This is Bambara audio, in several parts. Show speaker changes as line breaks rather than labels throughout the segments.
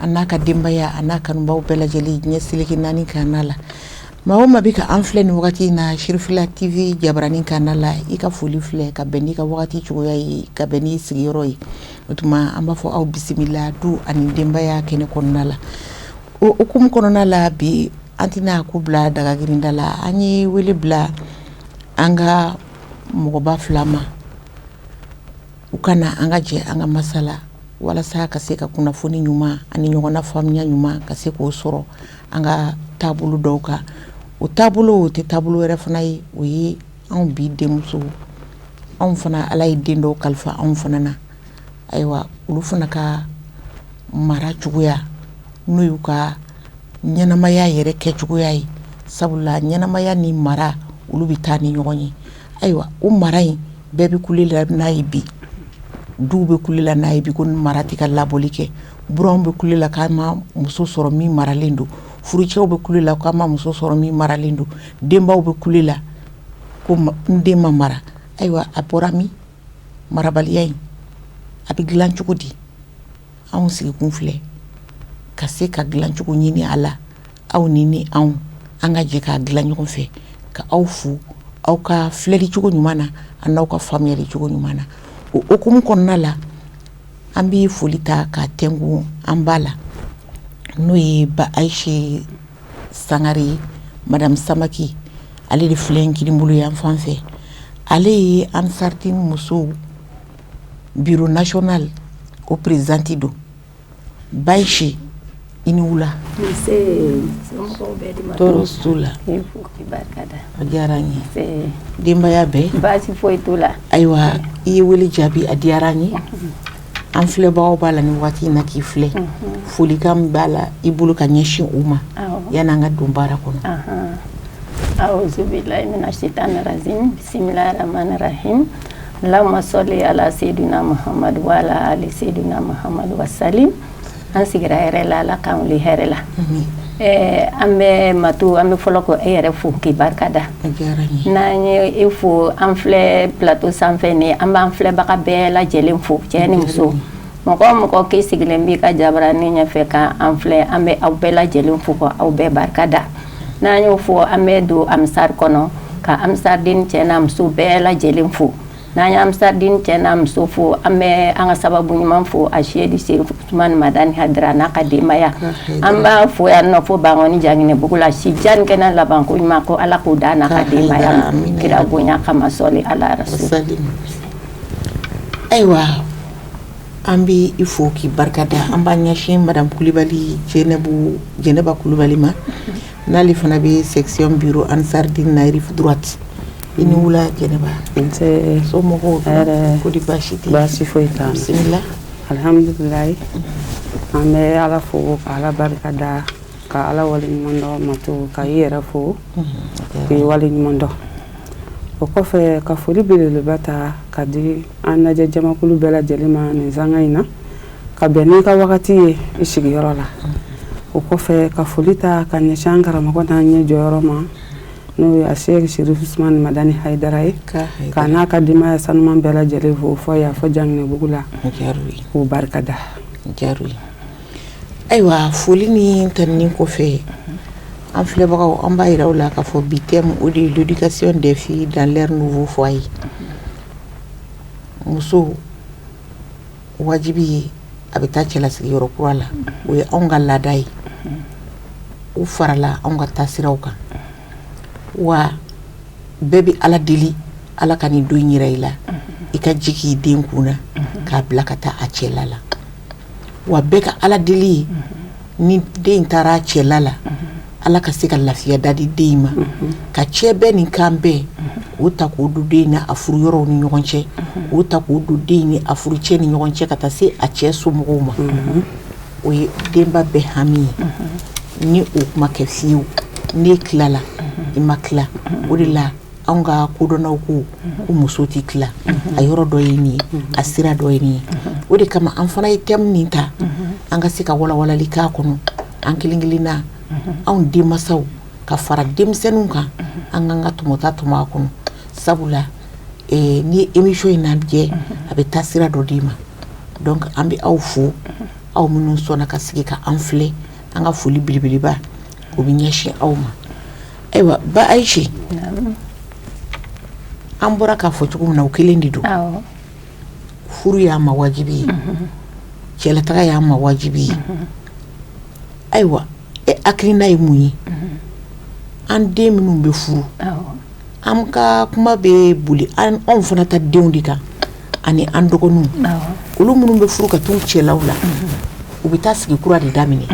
an ka denbaya an kanubaw bɛɛ lajɛlen diɲɛ seleke naani kanna la maa o maa bɛ ka an filɛ ni wagati in na Cherifla TV jabaranin kanna la i ka foli filɛ ka bɛn n'i ka wagati cogoya ye ka bɛn n'i sigiyɔrɔ ye o tuma an b'a fɔ aw bisimila du ani denbaya kɛnɛ kɔnɔna la o hukumu kɔnɔna la bi an tɛna ko bila dagagrindada la an ye wele bila an ka mɔgɔba fila ma u ka na an ka jɛ an ka masala walasa ka se ka kunnafoni ɲuman ani ɲɔgɔn na faamuya ɲuman ka se k'o sɔrɔ an ka taabolo dɔw kan o taabolo o tɛ taabolo wɛrɛ fana ye o ye anw bi denmusow anw fana ala ye den dɔw kalifa anw fana na ayiwa olu fana ka mara cogoya n'o y'u ka ɲɛnamaya yɛrɛ kɛ cogoya ye sabula ɲɛnamaya ni mara olu bɛ taa ni ɲɔgɔn ye ayiwa o mara in bɛɛ bɛ kule la n'a ye bi du bɛ kule la n'a ye bi ko mara tɛ ka labɔli kɛ buranw bɛ kule la k'an ma muso sɔrɔ min maralen don furucɛw bɛ kule la k'an ma muso sɔrɔ min maralen don denbaw bɛ kule la ko n den ma mara ayiwa a bɔra min marabaliya in a bɛ dilan cogo di anw sigikun filɛ ka se ka dilancogo ɲini a la aw ni ni anw an ka jɛ k'a dilan ɲɔgɔn fɛ ka aw fo aw ka filɛli cogo ɲuman na ani aw ka faamuyali cogo ɲuman na o hukumu kɔnɔna la an bɛ foli ta k'a tɛnku an ba la n'o ye ba ayise sangare ye madamu samake ale de filɛ n kinin bolo yan fan fɛ ale ye ansardine musow bureau national o présidente don ba ayise i ni wula tɔɔrɔ la a diyara n ye denbaya bɛ baasi foyi t'u la ayiwa i ye wele jaabi a diyara n ye an filɛbagaw b'a la ni waati in na k'i filɛ folikan b'a la i bolo ka ɲɛsin u ma yann'an ka don baara kɔnɔ aw la se bisimila Lama sɔli ala sedina Mahamadu wa ala ali sedina Mahamadu wa salim an sigira hɛrɛ la Ala k'an wuli hɛrɛ la, amin, ɛɛ an bɛ Matu an bɛ fɔlɔ ka e yɛrɛ fo k'i barika da, a diyara n ye, n'an ye e fo an filɛ plateau sanfɛ nin ye an b'an filɛbaga bɛɛ lajɛlen fo cɛ ni muso mɔgɔ o mɔgɔ n'i sigilen b'i ka jabaranin ɲɛfɛ ka an filɛ an bɛ aw bɛɛ lajɛlen fo ka aw bɛɛ barika da n'an y'o fɔ an bɛ don ansari kɔnɔ ka ansardine cɛ n'a muso bɛɛ lajɛlen fo n'an ye ansardine cɛ n'a muso fo an bɛ an ka sababu ɲuman fo asɛyidi serifu usumani madani hayidara n'a ka denbaya an b'a fo yan nɔ fo bankoni jaginɛbugu la si jan ni kɛnɛya labanko ɲuman ko ala k'o d'a n'a ka denbaya ma kira bonya kama sɔli ala rasuli ayiwa An bɛ i fo k'i barika da an b'a ɲɛsin madamu kulubali jɛnɛbu jɛnɛba kulubali ma n'ale fana bɛ section bureau ansardine na rive droite i ni wula jɛnɛba so mɔgɔw ko di baasi tɛ bisimila alihamdulilahi an bɛ ala fo ka ala barika da ka ala wale ɲuman dɔn matu ka i yɛrɛ fo k'i wale ɲuman o kɔfɛ ka foli belebeleba ta ka di an lajɛ jamakulu bɛɛ lajɛlen ma nin sanga in na ka bɛn n'i ka wagati ye i sigiyɔrɔ la o kɔfɛ ka foli ta ka ɲɛsin an karamɔgɔ n'an ɲɛ jɔyɔrɔ ma n'o ye asi serifu usumani madani hayidara ye ka n'a ka denbaya sanuman bɛɛ lajɛlen fo fo yan fo janginɛbugu la k'o barika da Ayiwa foli ni tanuni kɔfɛ an filɛbagaw an b'a jira aw la k'a fɔ bi thème o de ye l'éducation des filles dans leur nouveau foyer muso wajibi ye a bɛ taa cɛla sigiyɔrɔ kura la o ye anw ka laada ye u farala anw ka taa siraw kan wa bɛɛ bɛ ala deli ala ka nin don jira i la i ka ji k'i den kun na k'a bila ka taa a cɛla la wa bɛɛ ka ala deli ye ni den taara a cɛla la ala ka se ka lafiya da di den ma ka cɛbɛn ni kanbɛn o ta k'o don den ni a a furu yɔrɔw ni ɲɔgɔn cɛ o ta k'o don den ni a furu cɛ ni ɲɔgɔn cɛ ka taa se a cɛ so mɔgɔw ma o ye denba bɛɛ hami ye ni o ko ma kɛ fiyewu ne tilala i ma tila o de la anw ka kodɔnnaw ko muso tɛ tila a yɔrɔ dɔ ye nin ye a sira dɔ ye nin ye o de kama an fana ye thème nin ta an ka se ka walawalali k'a kɔnɔ an kelen kelen na anw denmasaw ka fara denmisɛnninw kan an k'an ka tɔmɔta tɔmɔ a kɔnɔ sabula ni emisiyɔn in lajɛ a bɛ taa sira dɔ d'i ma nka an bɛ aw fo aw minnu sɔnna ka sigi ka an filɛ an ka foli belebeleba o bɛ ɲɛsin aw ma ayiwa ba ayise an bɔra k'a fɔ cogo min na o kelen de don furu y'a ma wajibi ye cɛlataga y'a ma wajibi ye ayiwa e hakilina ye mun ye an den minnu bɛ furu an ka kuma bɛ boli anw fana ka denw de kan ani an dɔgɔninw olu minnu bɛ furu ka taa u cɛlalaw la u bɛ taa sigi kura de daminɛ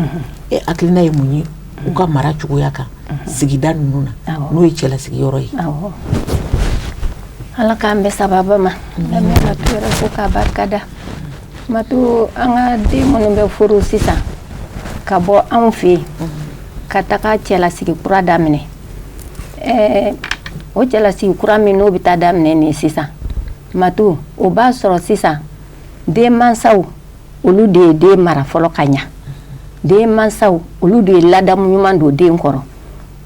e hakilina ye mun ye u ka mara cogoya kan sigida ninnu na n'o ye cɛla sigiyɔrɔ ye ala k'an bɛn sababu ma an ye matu yɛrɛ fo k'a barika da matu an ka den minnu bɛ furu sisan ka bɔ anw fɛ yen ka taga cɛla sigi kura daminɛ Ɛɛ o cɛlasigi kura min n'o bɛ taa daminɛ nin sisan mato o b'a sɔrɔ sisan den masaw olu de ye den mara fɔlɔ ka ɲɛ den masaw olu de ye ladamu ɲuman don den kɔrɔ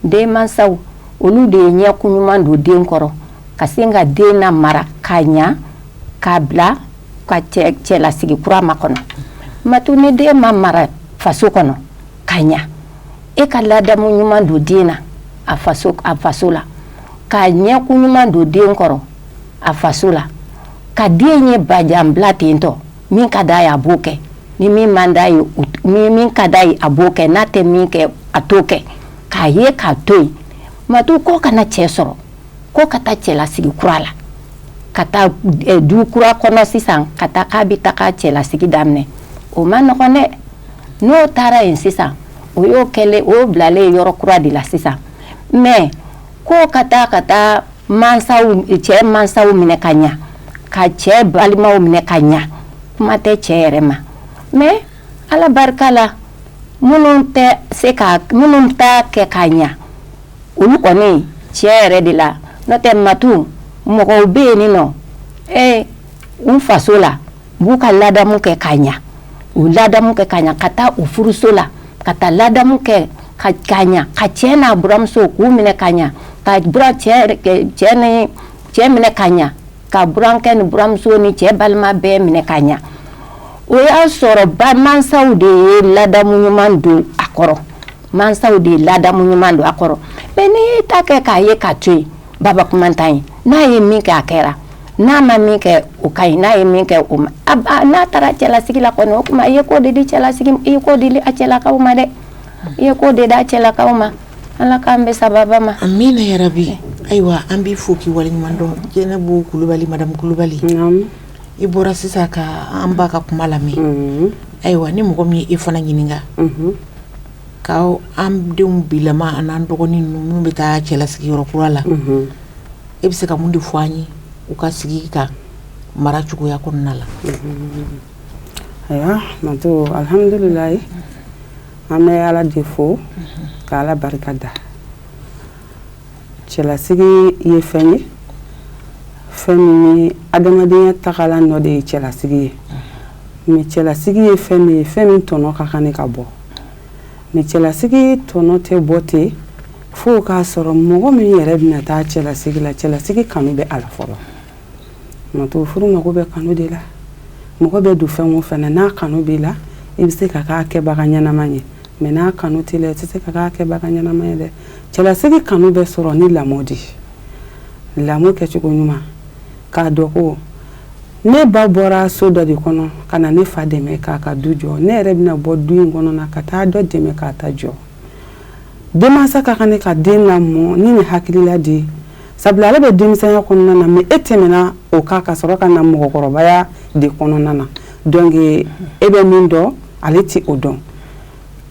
den masaw olu de ye ɲɛkun ɲuman don den kɔrɔ ka se ka den lamara ka ɲɛ k'a bila a ka cɛlasigi kurama kɔnɔ mato ni den ma mara faso kɔnɔ ka ɲa e ka ladamu ɲuman don den na a faso a faso la ka ɲɛkun ɲuman don den kɔrɔ a faso la ka den ye bajanbila ten tɔ min ka d'a ye a b'o kɛ ni min man d'a ye ni min ka d'a ye a b'o kɛ n'a tɛ min kɛ a t'o kɛ k'a ye k'a to yen matu k'o ka na cɛ sɔrɔ k'o ka taa cɛlasigi kura la ka taa eh, du kura kɔnɔ sisan ka taa k'a bɛ taa k'a cɛlasigi daminɛ o man nɔgɔn dɛ n'o taara yen sisan o y'o kɛlen o bilalen ye yɔrɔ kura de la sisan mɛ ko ka taa ka taa cɛ mansaw minɛ ka ɲɛ ka cɛ balimaw minɛ ka ɲɛ kuma tɛ cɛ yɛrɛ ma mɛ ala barika la minnu tɛ se ka minnu ta kɛ ka ɲɛ olu kɔni cɛ yɛrɛ de la n'o tɛ matu mɔgɔw bɛ yen nin nɔ ee n faso la u b'u ka ladamu kɛ k'a ɲa u ladamu kɛ k'a ɲa ka taa u furuso la ka taa ladamu kɛ ka k'a ɲa ka cɛɛ n'a buranmuso k'u minɛ ka ɲa ka buran cɛɛ cɛɛ ni cɛɛ minɛ ka ɲa ka burankɛ ni buranmuso ni cɛɛ balima bɛɛ minɛ ka ɲa o y'a sɔrɔ ba mansaw de ye ladamu ɲuman don a kɔrɔ mansaw de ye ladamu ɲuman don a kɔrɔ mɛ n'i y'i ta kɛ k'a ye k'a to yen babakumantan ye n'a ye min kɛ a kɛra N'a ma min kɛ o ka ɲi n'a ye min kɛ o ma n'a taara cɛlasigi la kɔnɔ o tuma i ye ko de di cɛla i ye ko de di a cɛlalakaw ma dɛ i ye ko de d'a cɛlalakaw ma ala k'an bɛɛ sababa ma amina yarabi ayiwa an b'i fo k'i waleɲumandɔn jɛnɛbu kulubali madamu kulubali i bɔra sisan ka an ba ka kuma lamɛn ayiwa ni mɔgɔ min e fana ɲininka k'an denw bila an'an dɔgɔninw minnu bɛ taa cɛlasigiyɔrɔ kura la e bɛ se ka mun de fɔ an ye u ka sigi ka mara cogoya kɔnɔna la ayiwa mato alihamdulilahi an bɛ ala de fo ka ala barika da cɛlasigi ye fɛn ye fɛn min ye adamadenya tagalan dɔ de ye cɛlasigi ye mɛ cɛlasigi ye fɛn de ye fɛn min tɔnɔ ka kan ka bɔ mɛ cɛlasigi tɔnɔ tɛ bɔ ten fo k'a sɔrɔ mɔgɔ min yɛrɛ bɛna taa cɛlasigi la cɛlasigi kanu bɛ a la fɔlɔ Mato furu mago bɛ kanu de la mɔgɔ bɛ don fɛn o fɛn na n'a kanu b'i la i bɛ se ka k'a kɛbaga ɲɛnama ye mɛ n'a kanu t'i la i tɛ se ka k'a kɛbaga ɲɛnama ye dɛ cɛlasigi kanu bɛ sɔrɔ ni lamɔ de ye lamɔ kɛcogo ɲuman k'a dɔn ko ne ba bɔra so dɔ de kɔnɔ ka na ne fa dɛmɛ k'a ka du jɔ ne yɛrɛ bɛna bɔ du in kɔnɔ na ka taa dɔ dɛmɛ k'a ta jɔ denmasa ka kan ka den lamɔ ni nin hakilila de sabula ale bɛ denmisɛnya kɔnɔna na mɛ e tɛmɛna o kan ka sɔrɔ ka na mɔgɔkɔrɔbaya de kɔnɔna na dɔnku e bɛ min dɔn ale tɛ o dɔn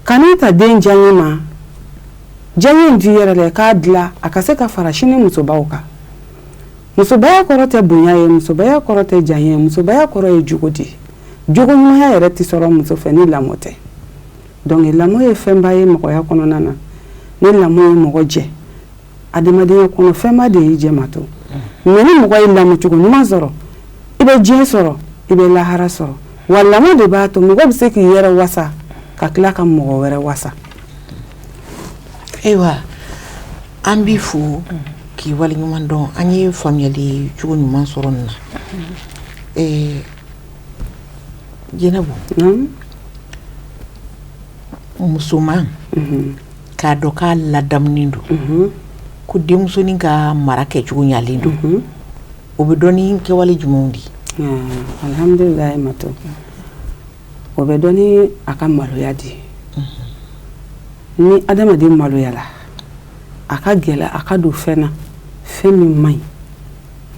kana ta den diya ye ma diya in di yɛrɛ dɛ k'a dilan a ka se ka fara sini musobaw kan musobaya kɔrɔ tɛ bonya ye musobaya kɔrɔ tɛ diya ye musobaya kɔrɔ ye jogo di jogoya yɛrɛ tɛ sɔrɔ muso fɛ ni lamɔ tɛ Dɔnku lamɔ ye fɛnba ye mɔgɔya kɔnɔna na ni lamɔ ye mɔgɔ jɛ adamadenya kɔnɔ fɛnba de y'i jɛ Mato mɛ ni mɔgɔ ye lamɔcogo ɲuman sɔrɔ i bɛ diɲɛ sɔrɔ i bɛ lahara sɔrɔ wa lamɔ de b'a to mɔgɔ bɛ se k'i yɛrɛ wasa ka tila ka mɔgɔ wɛrɛ wasa ayiwa an bɛ fo k'i wale ɲuman dɔn an ye faamuyali cogo ɲuman sɔrɔ na Jɛnɛbu musoman k'a dɔn k'a ladamunen don ko denmusonin ka mara kɛ cogo ɲalen don o bɛ dɔn ni kɛwale jumɛnw de ye alhamdulilahi Mato o bɛ dɔn ni a ka maloya de ye ni adamaden maloyara a ka gɛlɛn a ka don fɛn na fɛn min man ɲi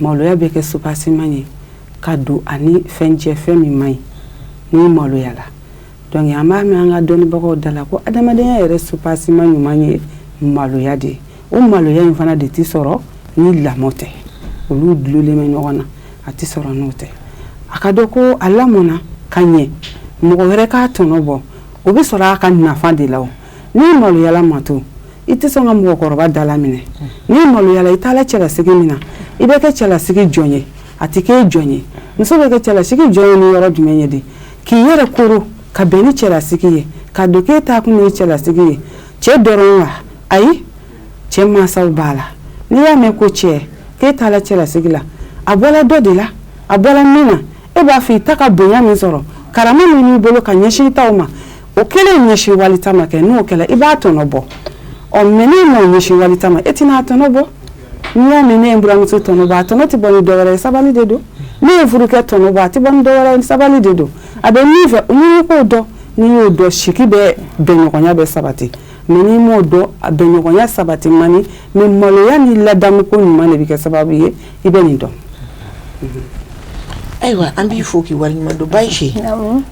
maloya bɛ kɛ subasiman ye ka don a ni fɛn cɛ fɛn min man ɲi n'i maloyala dɔnku an b'a mɛn an ka dɔnnibagaw da la ko adamadenya yɛrɛ subasiman ɲuman ye maloya de ye o maloya in fana de tɛ sɔrɔ ni lamɔ tɛ olu dulen bɛ ɲɔgɔn na a tɛ sɔrɔ n'o tɛ a k'a dɔn ko a lamɔna ka ɲɛ mɔgɔ wɛrɛ k'a tɔnɔ bɔ o bɛ sɔrɔ a ka nafa de la n'i maloyala Mato i tɛ sɔn ka mɔgɔkɔrɔba dalaminɛ n'i maloyala i taa cɛlasigi min na i bɛ kɛ cɛlasigi jɔn ye a tɛ kɛ jɔn ye muso bɛ kɛ cɛlasigi jɔn ye ni yɔrɔ jumɛn ye de k'i yɛrɛ kolo ka bɛn ni cɛlasigi ye k'a dɔn k'i taakun ye cɛlasigi ye cɛ dɔrɔn wa ayi cɛ mansaw b'a la n'i y'a mɛn ko cɛ ke' cɛlasigi la a bɔra dɔ de la a bɔra min na e b'a fɔ i ta ka bonya min sɔrɔ karama min b'i bolo ka ɲɛsin ta ma o kɛlen ɲɛsin wali ta kɛ n'o kɛlɛ i b'a tɔnɔ bɔ ɔ mɛ n'i ma ɲɛsin wali ta ma e tɛna n'a tɔnɔ bɔ n'i y'a mɛn ne ye buramuso tɔnɔ a tɔnɔ tɛ bɔ ni dɔwɛrɛ ye sabali de don ne ye furukɛ tɔnɔ bɔ a tɛ bɔ ni dɔwɛrɛ ye sabali de don a bɛ min fɛ n'i k'o dɔn n'i y'o dɔn sigi bɛ bɛnɲɔgɔnya bɛ sabati mɛ n'i m'o dɔn a bɛnɲɔgɔnya sabati man ni mɛ maloya ni ladamuko ɲuman de bɛ kɛ sababu ye i bɛ nin dɔn ayiwa an b'i fo k'i waleɲumandɔn ba si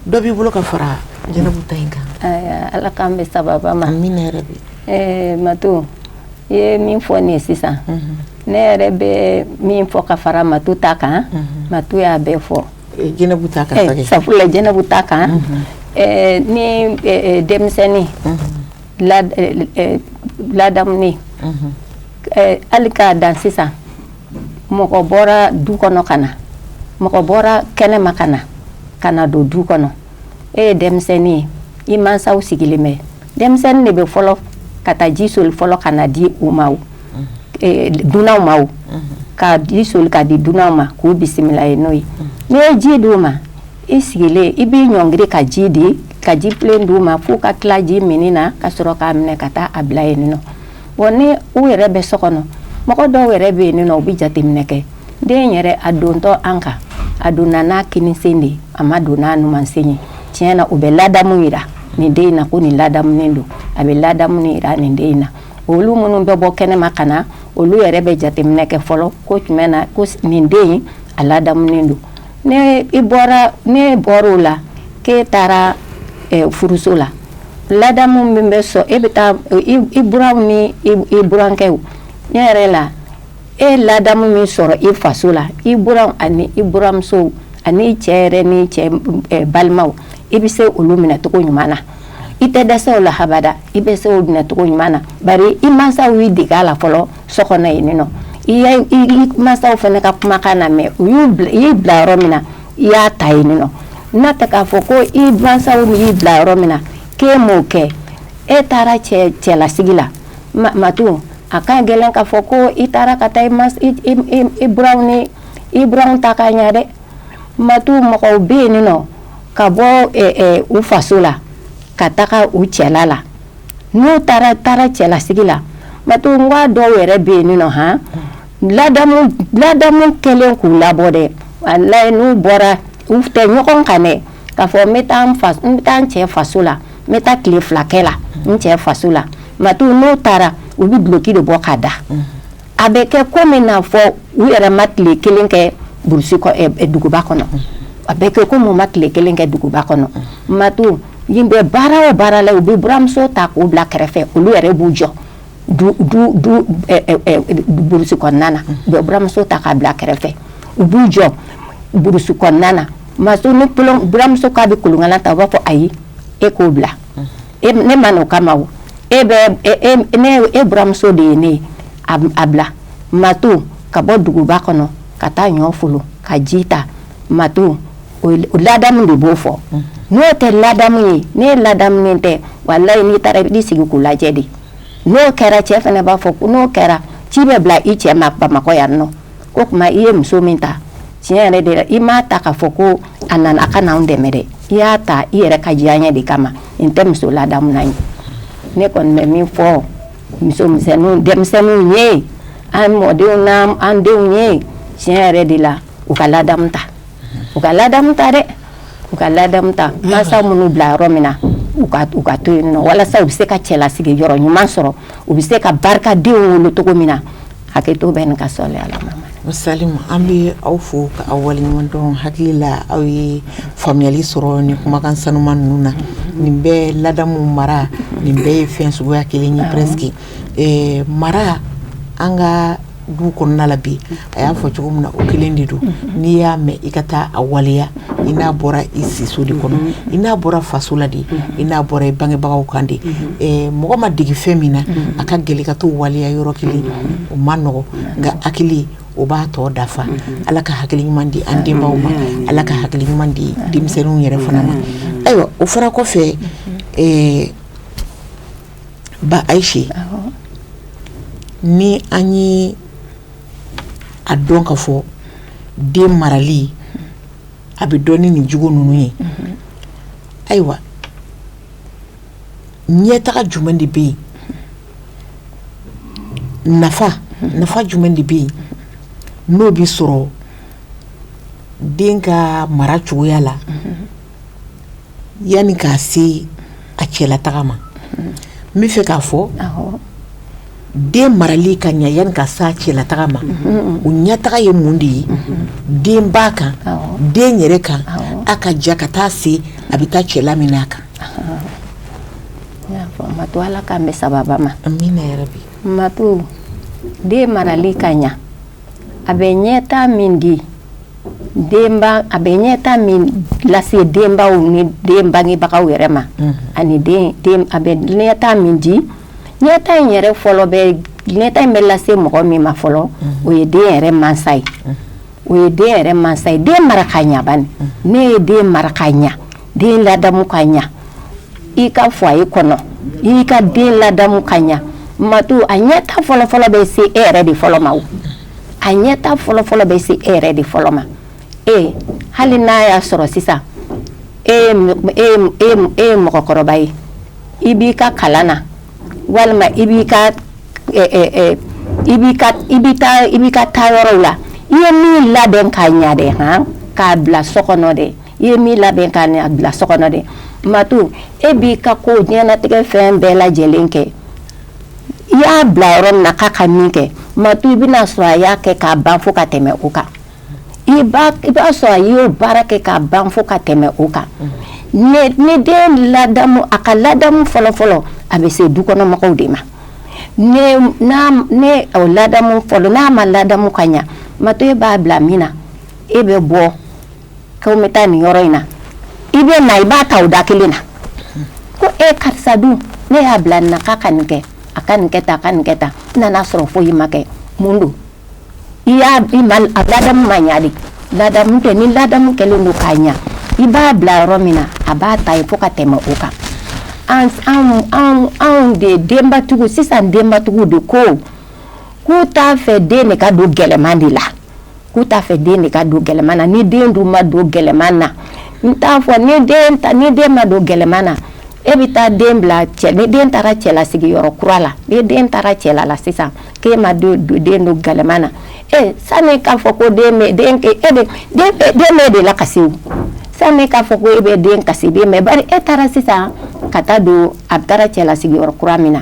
dɔ b'i bolo ka fara jɛnɛbu ta in kan ala k'an bɛn sababa ma min yɛrɛ bi mato i ye min fɔ nin ye sisan ne yɛrɛ bɛ min fɔ ka fara mato ta kan mato y'a bɛɛ fɔ jɛnɛbu ta kan sabula jɛnɛbu ta kan ni denmisɛnnin ladamunen hali k'a dan sisan mɔgɔ bɔra du kɔnɔ ka na mɔgɔ bɔra kɛnɛ ma ka na ka na don du kɔnɔ e ye denmisɛnnin ye i mansaw sigilen bɛ denmisɛnnin de bɛ fɔlɔ ka taa ji soli fɔlɔ ka na di u ma dunanw ma ka ji soli ka di dunanw ma k'u bisimila ye n'o ye n'i ye ji di' u ma I sigilen i b'i ɲɔngiri ka ji de ye ka jifilen di' ma fo ka tila ji min na ka sɔrɔ k'a minɛ ka taa a bila yen wa ni u yɛrɛ bɛ so kɔnɔ mɔgɔ dɔw yɛrɛ bɛ yen u bɛ jateminɛ kɛ den yɛrɛ a dontɔ an kan a donna n'a kinin sen de ye a ma don n'a numan sen ye tiɲɛ na u bɛ ladamu jira nin den in na ko nin ladamunen don a bɛ ladamu jira nin den in na olu minnu bɛ bɔ kɛnɛma ka na olu yɛrɛ bɛ jateminɛ kɛ fɔlɔ ko tiɲɛ na ko nin den in a ladamunen don n'i bɔra n'e bɔra o la k'e taara furuso la ladamu min bɛ sɔn e bɛ taa i buranw ni i burankɛw yɔrɔ la e ladamu min sɔrɔ i faso la i buranw ani i buramusow ani i cɛ yɛrɛ n'i cɛ balimaw i bɛ se olu minɛcogo ɲuman na i tɛ dɛsɛ o la habada i bɛ se o minɛcogo ɲuman na bari i mansaw y'i dege a la fɔlɔ so ɲini i masaw fana ka kumakan namɛn u y'u bila i bila yɔrɔ min na i y'a ta yen nɔ n'a tɛ k'a fɔ ko i masaw min y'i bila yɔrɔ min na k'e m'o kɛ e taara cɛ cɛlasigi la mato a ka gɛlɛn k'a fɔ ko i taara ka taa i bura ni i buranw ta ka ɲɛ dɛ mato mɔgɔw bɛ yen nin nɔ ka bɔ u faso la ka taga u cɛla la n'u taara taara cɛlasigi la mato dɔw yɛrɛ bɛ yen nɔ h ladamu kɛlen k'u labɔ dɛ walayi n'u bɔra u tɛ ɲɔgɔn kan dɛ ka fɔ n n taa cɛ faso la n bɛ taa tile fila kɛ la n cɛ faso la mato n'u taara u bɛ duloki de bɔ ka da a bɛ kɛ komi n'a fɔ u yɛrɛ ma tile kelen kɛ duguba kɔnɔ a bɛ kɛ komi u ma tile kelen kɛ duguba kɔnɔ ma bɛ baara baara la u bɛ buranmuso ta k'u bila kɛrɛfɛ olu yɛrɛ b'u jɔ kɔnɔna na u bɛ buranmuso ta k'a bila kɛrɛfɛ u b'u jɔ kɔnɔna na buranmuso k'a bɛ kolonkalan ta u b'a fɔ ayi e k'o bila ne ma na o kama e e buranmuso de ye ne a bila ma to ka bɔ duguba kɔnɔ ka taa ɲɔfolon ka ji ta ma to ladamu de b'o fɔ n'o tɛ ladamu ye ne ladamunen tɛ walayi n'i taara i sigi ko lajɛ de n'o kɛra cɛ fana b'a fɔ n'o kɛra ci bɛ bila i cɛ ma bamakɔ yan nɔ o tuma i ye muso min ta tiɲɛ yɛrɛ de la i m'a ta k'a fɔ ko a nana ka n'anw dɛmɛ dɛ i y'a ta i yɛrɛ ka diyanye de kama nin tɛ muso ladamunen ye ne kɔni bɛ min fɔ muso misɛnninw denmisɛnninw ye an mɔdenw n'an an denw ye tiɲɛ yɛrɛ de la u ka ladamu ta u ka ladamu ta dɛ u ka ladamu ta mansa minnu bila yɔrɔ min na u ka u ka to yen nɔ walasa u bɛ se ka cɛlasigi yɔrɔ ɲuman sɔrɔ u bɛ se ka barikadenw wolo cogo min na hakɛto bɛ nin ka sɔn ala sa an bɛ aw fɔ ka aw waleɲumandɔn hakili la aw ye faamuyali sɔrɔ ni kumakan sanuma ninnu na nin bɛɛ ladamu mara nin bɛɛ ye fɛn suguya kelen ye pske mara an ka du kɔnɔna na bi a y'a fɔ cogo min na o kelen de don n'i y'a mɛn i ka taa a waleya i n'a bɔra i siso de kɔnɔ i n'a bɔra faso la de i n'a bɔra i bangebagaw kan de mɔgɔ ma dege fɛn min na a ka gɛlɛn ka t'o waleya yɔrɔ kelen o man nɔgɔ nka hakili o b'a tɔ dafa ala ka hakili ɲuman di an denbaw ma ala ka hakili ɲuman di denmisɛnninw yɛrɛ fana ma ayiwa o fara kɔfɛ ba ayise ni an ye a dɔn k'a fɔ den marali a bɛ dɔn ni nin jugu ninnu ye ayiwa ɲɛtaga jumɛn de bɛ yen nafa nafa jumɛn de bɛ yen n'o bɛ sɔrɔ den ka mara cogoya la yanni k'a se a cɛla taga ma n b'a fɛ k'a fɔ den marali ka ɲɛ yanni k'a se a cɛla taga ma o ɲɛtaga ye mun de ye denba kan den yɛrɛ kan a ka ja ka taa se a bɛ taa cɛla min a kan to ala k'an bɛ saba ma bi ma den marali ka ɲɛ a bɛ ɲɛta min di a bɛ ɲɛta min lase denbaw ni den bangebagaw yɛrɛ ma ani a bɛ ɲɛta min di ɲɛta in yɛrɛ fɔlɔ bɛ ɲɛta in bɛ lase mɔgɔ min ma fɔlɔ o ye den yɛrɛ mansa ye o ye den yɛrɛ mansa ye den mara ka ɲa n'e ye den mara ka ɲɛ den ladamu ka ɲɛ i k'a fɔ a ye kɔnɔ i ka den ladamu ka ɲɛ matu a ɲɛta fɔlɔfɔlɔ bɛ se e yɛrɛ de fɔlɔ ma a ɲɛta fɔlɔfɔlɔ bɛ se e yɛrɛ de fɔlɔ ma e hali n'a y'a sɔrɔ sisan e, e, e, e mɔgɔkɔrɔba ye i b'i ka kalan na walima i b'i ka i b'i ka i bɛ taa i b'i ka taa yɔrɔw la i ye min labɛn k'a ɲɛ dɛ han k'a bila so kɔnɔ dɛ I ye min labɛn ka a bila so kɔnɔ dɛ ma to e b'i ka ko diɲɛnatigɛ fɛn bɛɛ lajɛlen kɛ i y'a bila yɔrɔ min na ka ka min kɛ ma to i bɛna sɔrɔ a y'a kɛ k'a ban fɔ ka tɛmɛ o kan i b'a sɔrɔ a y'o baara kɛ k'a ban fɔ ka tɛmɛ o kan n'e den ladamu a ka ladamu fɔlɔ fɔlɔ a bɛ se dukɔnɔmɔgɔw de ma ladamu fɔlɔ n'a ma ladamu ka ɲɛ mato e b'a bila min na e bɛ bɔ Ko n bɛ taa nin yɔrɔ in na i bɛ na i b'a ta o da kelen na ko e karisa dun ne y'a bila na ka nin kɛ a ka nin kɛ ta a ka nin kɛ ta n nan'a sɔrɔ fo i m'a kɛ mun don i y'a ladamu ma ɲa ale ladamu kɛ ni ladamu kɛlen don k'a ɲɛ i b'a bila yɔrɔ min na a bɛ taa yen fo ka tɛmɛ o kan anw de denbatigiw sisan denbatigiw de ko k'u t'a fɛ den de ka don gɛlɛman de la k'u t'a fɛ den de ka don gɛlɛman na ni den dun ma don gɛlɛman na n t'a fɔ ni den ta ni den ma don gɛlɛman na e bɛ taa den bila cɛ ni den taara cɛla sigiyɔrɔ kura la ni den taara cɛla la sisan k'e ma don den don gɛlɛman na e sani k'a fɔ ko den bɛ den e bɛ den den b'e de lakasi o sani k'a fɔ ko e bɛ den kasi den bɛ bari e taara sisan ka taa don a bɛ taara cɛla sigiyɔrɔ kura min na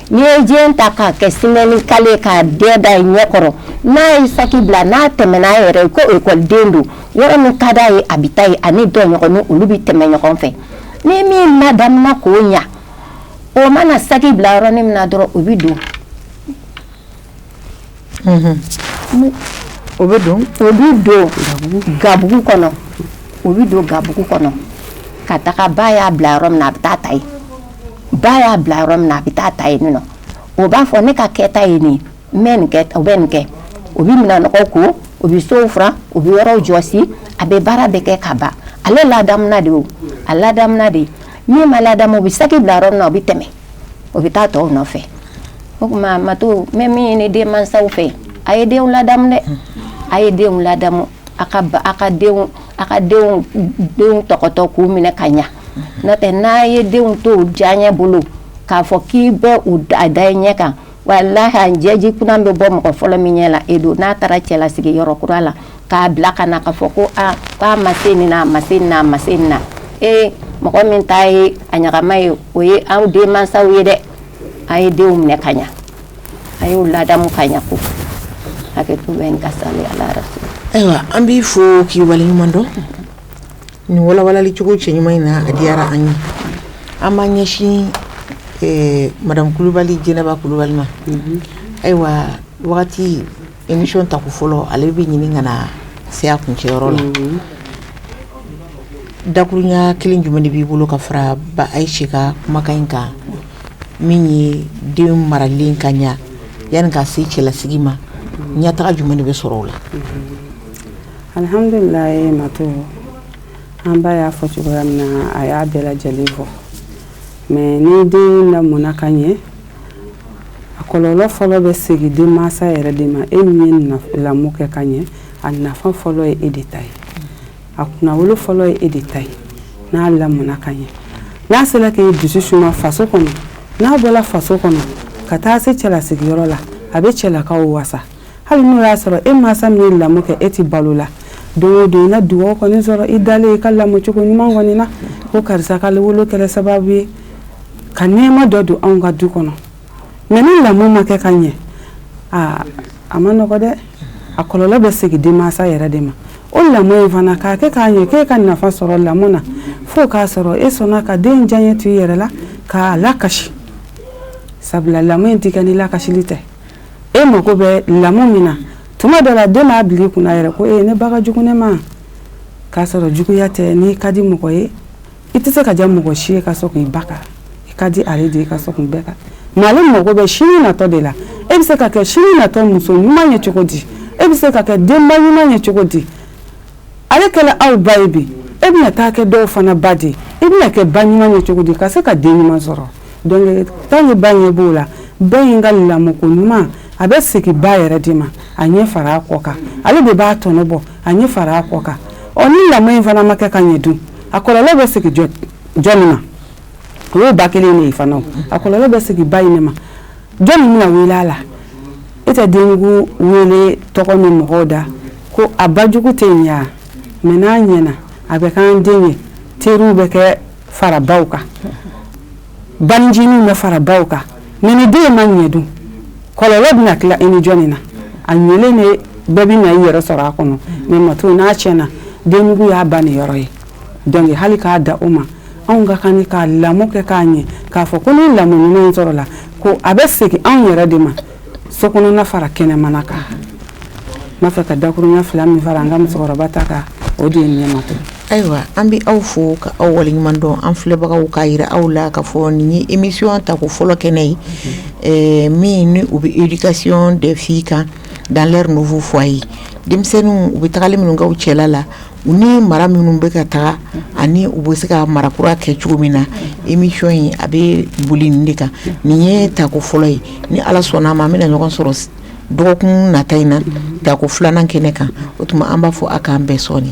N'i ye den ta k'a kɛ semaine kalo ye k'a dɛɛ da i ɲɛ kɔrɔ n'a ye sac bila n'a tɛmɛ n'a yɛrɛ ye ko école den don yɔrɔ min ka d'a ye a bɛ taa yen a ni tɔɲɔgɔnninw olu bɛ tɛmɛ ɲɔgɔn fɛ ni min ladamuna k'o ɲa o mana sac bila yɔrɔnin min na dɔrɔn o bɛ don o bɛ don gabugu kɔnɔ o bɛ don gabugu kɔnɔ ka taga ba y'a bila yɔrɔ min a bɛ taa ta ba y'a bila yɔrɔ min a bɛ taa ta yen o b'a fɔ ne ka kɛta ye nin bɛ nin kɛ o bɛ nin kɛ o bɛ minɛn nɔgɔ ko o bɛ so furan o bɛ yɔrɔ jɔsi a bɛ baara bɛɛ kɛ ka ban ale la de a la de min ma ladamu o bɛ sac bila yɔrɔ min na o bɛ tɛmɛ o bɛ taa tɔw nɔfɛ o tuma ma to n bɛ min ɲini denmansaw fɛ a ye denw ladamu dɛ a ye denw ladamu a ka a ka denw a ka denw denw tɔgɔtɔ k'u minɛ ka ɲɛ n'o tɛ n'a ye denw to diyaɲɛ bolo k'a fɔ k'i bɛ u da i ɲɛ kan Walahi a ɲɛji kunan bɛ bɔ mɔgɔ fɔlɔ min ɲɛ la e don n'a taara cɛlasigi yɔrɔ kura la k'a bila ka na ka fɔ ko aa k'a ma se nin a ma se na a ma se na ee mɔgɔ min ta ye a ɲagama ye o ye aw denmansaw ye dɛ a ye denw minɛ ka ɲɛ a y'u ladamu ka ɲɛ ko hakɛ bɛ ka sa ala ayiwa an b'i fɔ k'i waleɲuman dɔn Nin walawalali cogo cɛɲuman in na a diyara an ye an b'an ɲɛsin madamu kulubali jɛnɛba kulubali ma ayiwa wagati émission tako fɔlɔ ale bɛ ɲini ka na se a kuncɛyɔrɔ la dakurunya kelen jumɛn de b'i bolo ka fara Ayise ka kumakan in kan min ye den maralen ka ɲɛ yanni ka se cɛlasigi ma ɲɛtaga jumɛn de bɛ sɔrɔ o la Alihamdulila ma to an ba y'a fɔ cogoya min na a y'a bɛɛ lajɛlen fɔ mais ni den lamɔna ka ɲɛ a kɔlɔlɔ fɔlɔ bɛ segin denmansa yɛrɛ de ma e min ye lamɔ kɛ ka ɲɛ a nafa fɔlɔ ye e de ta ye a kunnawolo fɔlɔ ye e de ta ye n'a lamɔna ka ɲɛ n'a sera k'i dusu suma faso kɔnɔ n'a bɔra faso kɔnɔ ka taa se cɛlasigiyɔrɔ la a bɛ cɛlakaw wasa hali n'o y'a sɔrɔ e mansa min ye lamɔ kɛ e tɛ balo la don o don i na dugawu kɔni sɔrɔ i dalen i ka lamɔcogo ɲuman kɔni na ko karisa ka wolo kɛra sababu ye ka nɛɛma dɔ don anw ka du kɔnɔ mais ni lamɔ ma kɛ ka ɲɛ aa a man nɔgɔ dɛ a kɔlɔlɔ bɛ segin denmansa yɛrɛ de ma o lamɔ in fana k'a kɛ ka ɲɛ k'e ka nafa sɔrɔ lamɔ na fo k'a sɔrɔ e sɔnna ka den diyaɲɛ to i yɛrɛ la k'a lakasi sabula lamɔ in tɛ kɛ ni lakasili tɛ e mago bɛ lamɔ min na tuma dɔ la den b'a bila i kunna yɛrɛ ko e ne ba ka jugu ne ma k'a sɔrɔ juguya tɛ n'i ka di mɔgɔ ye i tɛ se ka diya mɔgɔ si ye ka sɔrɔ k'i ba kan i ka di ale de ye ka sɔrɔ k'i bɛɛ kan mais ale mago bɛ sini natɔ de la e bɛ se ka kɛ sini natɔ muso ɲuman ye cogo di e bɛ se ka kɛ denba ɲuman ye cogo di ale kɛlen aw ba ye bi e bɛna taa kɛ dɔw fana ba di i bɛna kɛ ba ɲuman ye cogo di ka se ka den ɲuman sɔrɔ donc tan ni ba ɲɛ b'o la ba in ka lamɔko ɲuman a bɛ segin ba yɛrɛ de ma a ɲɛ fara a kɔ kan ale de b'a tɔnɔ bɔ a ɲɛ fara a kɔ kan ɔ ni lamɔ in fana ma kɛ ka ɲɛ dun a kɔlɔlɔ bɛ segin jɔni ma o ye ba kelen de ye fana a kɔlɔlɔ bɛ segin ba in de ma Jɔni bɛna wele a la e tɛ denjugu wele tɔgɔ bɛ mɔgɔw da ko a ba jugu tɛ nin yan mɛ n'a ɲɛna a bɛ k'an den ye teriw bɛ kɛ fara baw kan bancinin bɛ fara baw kan mɛ ni den ma ɲɛ dun kɔlɔlɔ bɛna tila i ni jɔn na a ɲɛlen de bɛɛ bɛ na i yɛrɛ sɔrɔ a kɔnɔ mɛ mato n'a tiɲɛna denjugu y'a ba niyɔrɔ ye donc hali k'a da o ma anw ka kan ka lamɔ kɛ k'a ɲɛ k'a fɔ ko ni lamɔ ɲuman sɔrɔla ko a bɛ segin anw yɛrɛ de ma so kɔnɔ fara kɛnɛmana kan n b'a fɛ ka dakurunya fila min fara an ka musokɔrɔba ta kan o de ye ɲɛma to ayiwa an bɛ aw fo ka aw waleɲuman dɔn an filɛbagaw k'a jira aw la k'a fɔ nin ye émission tako fɔlɔ kɛnɛ ye eh, min ni u bɛ éducation des filles kan dans leur nouveau foyer denmisɛnninw u bɛ tagali minnu kɛ u cɛla la U ni mara minnu bɛ ka taa ani u bɛ se ka mara kura kɛ cogo min na émission in a bɛ boli nin de kan nin ye tako fɔlɔ ye ni ala sɔnna a ma an bɛna ɲɔgɔn sɔrɔ dɔgɔkun nata in na tako filanan kɛnɛ kan o tuma an b'a fɔ a k'an bɛn sɔɔni